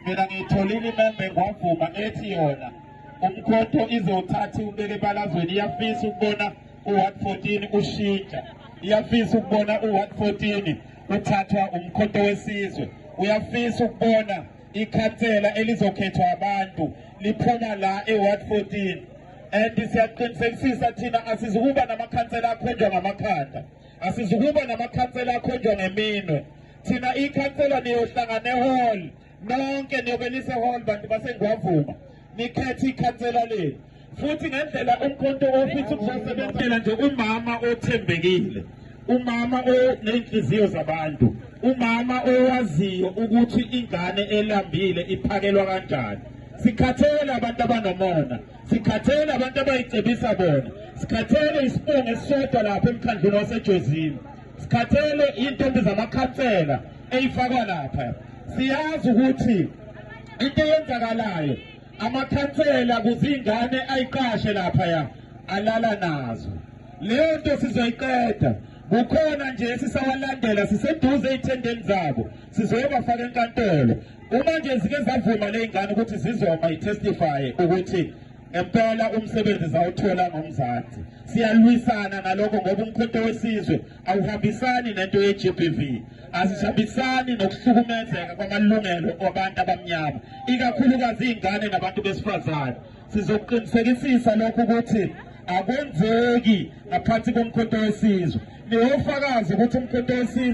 mina ngiyitholile imembe ngwavuma ethi yona umkhotho izothatha iwubeke ebalazweni iyafisa ukubona u-ward 14 ushintsha iyafisa ukubona u-ward 14 uthathwa umkhotho wesizwe uyafisa ukubona ikhansela elizokhethwa abantu liphuma la e-ward 14 and siyaqinisekisisa thina asizukuba namakhansela akhonjwa ngamakhanda asizukuba namakhansela akhonjwa ngeminwe thina ikhansela niyohlangane hall nonke niyobe lise hall bantu basengwavuma nikhethe ikhansela lenu futhi ngendlela umkhonto ofisa ukuzosebenzela nje umama othembekile umama onenhliziyo zabantu umama owaziyo ukuthi ingane elambile iphakelwa kanjani sikhathele abantu abanomona sikhathele abantu abayicebisa bona sikhathele isibongo esisodwa lapha emkhandlwini wasejozini sikhathele intombi zamakhansela eyifakwa lapha siyazi ukuthi into eyenzakalayo amakhansela kuzingane ayiqashe lapha ya alala nazo leyo nto sizoyiqeda kukhona nje esisawalandela siseduze ey'thendeni zabo sizoyobafaka enkantolo uma nje zike zavuma ley'ngane ukuthi zizoma i-testifye ukuthi ngempela umsebenzi zawuthola ngomzansi siyalwisana nalokho ngoba umkhonto wesizwe awuhambisani nento ye-gbv asihambisani nokuhlukumezeka kwamalungelo abantu abamnyama ikakhulukazi iy'ngane nabantu besifazane sizoqinisekisisa lokhu ukuthi akwenzeki ngaphansi komkhonto wesizwe niwofakazi ukuthi umkhonto wesizwe